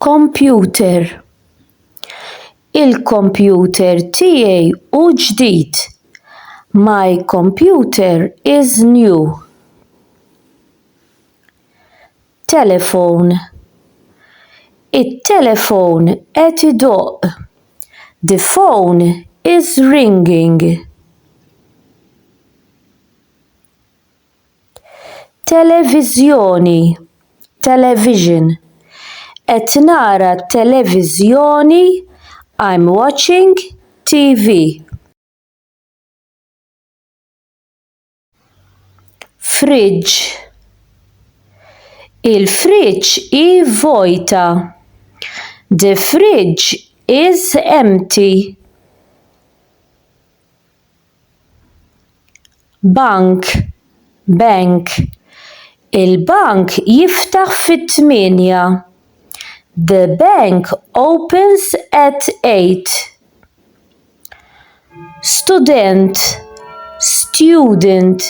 Computer Il-kompjuter tiegħi hu ġdid. My computer is new. Telefon It-telefon qed idoqq. The phone is ringing. Televiżjoni, television. Qed nara t-televiżjoni, I'm watching TV. Fridge, il-friġġ hi vojta. The fridge is empty. Bank, Bank, Il-bank jiftaħ fit-tmienja. The bank opens at eight. Student, Student,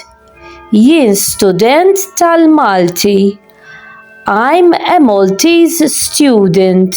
Jien student tal-Malti. I'm a Maltese student.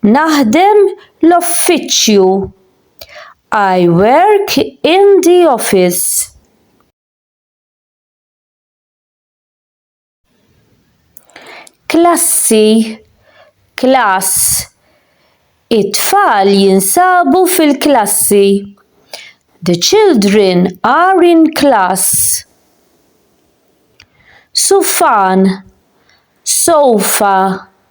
Naħdem l-offiċċju. I work in the office. Klassi, class. It-tfal jinsabu fil-klassi. The children are in class. Sufan, sofa.